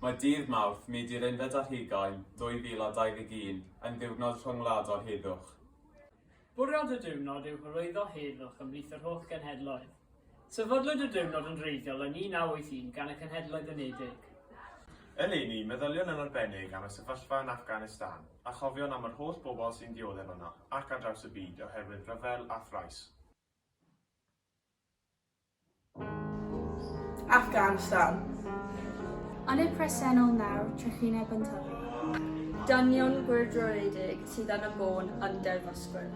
Mae dydd Mawrth, Myd i'r Unfed ar Hugain 2021, yn ddiwrnod rhyngwladol heddwch. Bwriad y diwrnod yw hyrwyddo heddwch ymhlith yr holl genhedloedd. Sefydlwyd y diwrnod yn wreiddiol yn 1981 gan y Cenhedloedd Unedig. Eleni, meddyliwn yn arbennig am y sefyllfa yn Afghanistan, a chofiwn am yr holl bobl sy'n dioddef yno ac ar draws y byd oherwydd rhyfel a thrais. ac ansawdd. Yn y presennol nawr, trychineb yn tyfu. Dynion gwyrdroledig sydd yn y bôn yn derfysgwyr.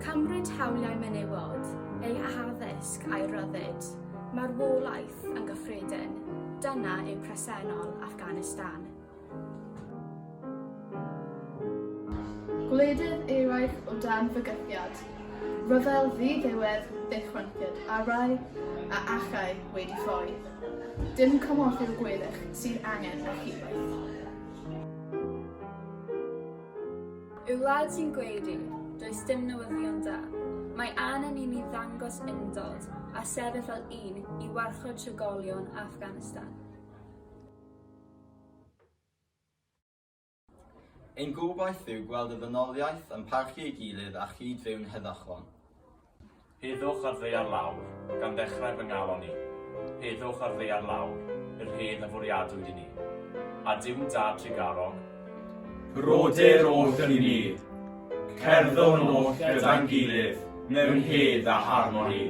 Cymryd hawliau menywod, eu addysg a'u rhyddid, marwolaeth yn gyffredin, dyna yw presennol Afghanistan. Gwledydd eraill o dan fygythiad rhyfel ddi-ddiwedd ddychwelyd a rai a allai wedi ffoi. Dim cymorth i'r gweddill sydd angen na chibell. Y wlad sy'n gweud i, does dim newyddion da. Mae anen i ni ddangos undod a sefyll fel un i warchod trigolion Afghanistan. Ein gobaith yw gweld y ddynoliaeth yn parchu ei gilydd a chyd-fyw'n heddychlon. Heddwch ar ddaear lawr, gan ddechrau fy ngalon i. Heddwch ar ddaear lawr, yr hedd a fwriadwyd i ni. A Duw Da Tregarog? Brodyr oll yn un, cerddwn oll gyda'n gilydd mewn hedd a harmoni.